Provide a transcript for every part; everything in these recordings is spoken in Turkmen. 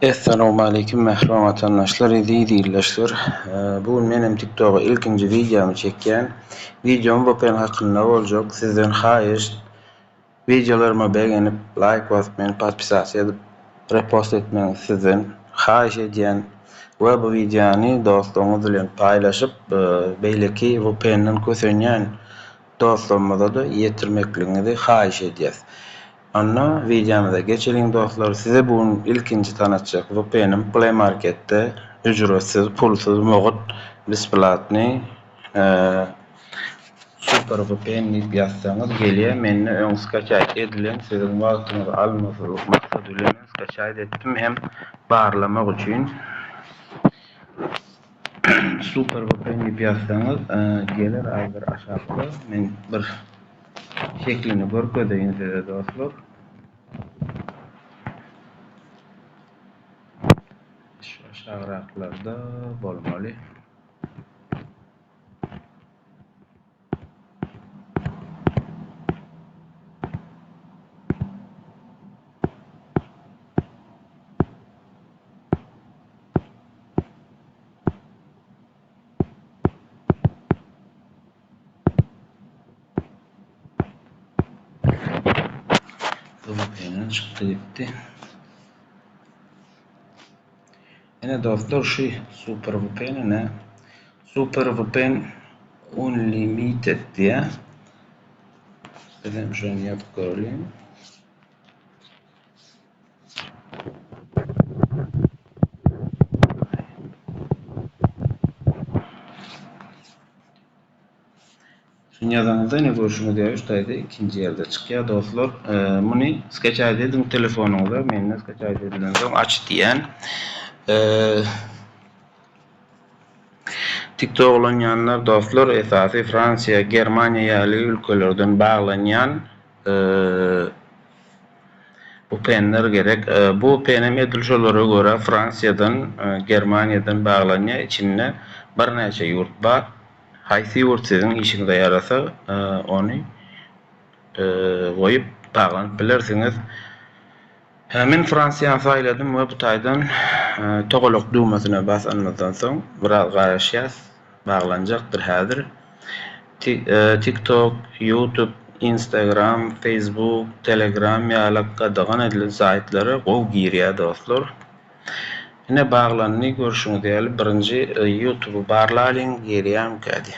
Essalowmaleýkim mähriban watandaşlar eziz ildeşler bu gün menem tiktoga ilkinji wideomy çekýän wideom vpn hakynda boljak sizden haýyşt wideolaryma begenip laýk basyp meni podpisasiýa edip repost etmegiňizi sizden haýyş edýän we bu wideony dostlaryňyz bilen paýlaşyp beýleki vpndan kösenýän dostlarymyzada ýetirmekligiňizi haýyş edýäs Onda wideomyza geçeliň dostlar size bu gün ilkinji tanatjak vpnim play marketde ücretsiz pulsuz mugut besplatny super vpn diýip ýazsaňyz gelýär mende öň skaçaýt edilen siziň wagtyňyzy almazlyk maksady bilen men skaçaýt etdim hem barlamak üçin super vpn diýip ýazsaňyz geler aý bir aşakda men bir. Şeklini görkezeýin size dostlar. Şu aşagraklarda bolmaly. Öňküsinden çykdy gitdi. Ene dostlar şu super VPN ne? Super VPN Unlimited diye. Bizden şunu yapıp görelim. Dünýädaňyzda ine görşüňiz ýaly üç taýda ikinji ýerde çykýar dostlar. Muny skaçaýt ediň telefonyňyza. Mende skaçaýt edilen soň aç diýen. TikTok ulanýanlar dostlar esasy Fransiýa, Germaniýa ýaly ülkelerden baglanýan. Bu penler gerek. Bu penem edil şolara görä Fransiýadan, Germaniýadan baglanýar. Içinde birnäçe ýurt bar. Haýsy ýurt siziň işiňize ýarasa, ony goýup baglanyp bilersiňiz. Men Fransiýany saýladym we bu taýdan togalak düwmesine basanymyzdan soň biraz garaşýas, baglanjakdyr häzir. TikTok, YouTube, Instagram, Facebook, Telegram ýaly gadagan edilen saýtlara gowy girýär dostlar. Ine baglandy görşüňiz ýaly birinji YouTube barlalyň girýämikädi.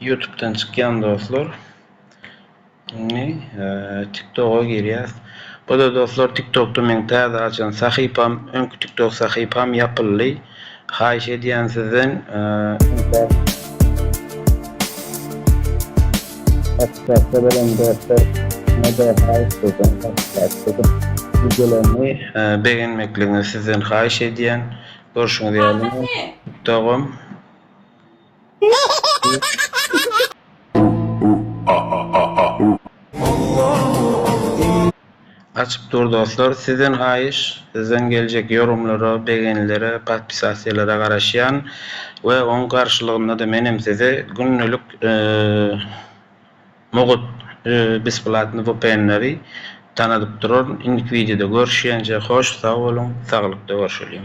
Ýutubdan çykýan dostlar. Indi TikToga girýäs. Bu-da dostlar TikTokda meň täze açan sahypam, öňki TikTok sahypam ýapyldy. Haýyş edýän sizden Whatsappda bolan dostlar mada haýyş edýän Whatsappda wideolarymy begenmekligiňizi sizden haýyş edýän. Görşüňiz ýaly TikTogum. Açyp dur dostlar sizden haýyş sizden geljek ýorumlara begenilere patpisasiýalara garaşýan we oň garşylygyndada menem size gündelik mugt besplatny vpnleri tanadyp duraryn indiki wideoda görüşýänçe hoş sag boluň saglykda görşeliň.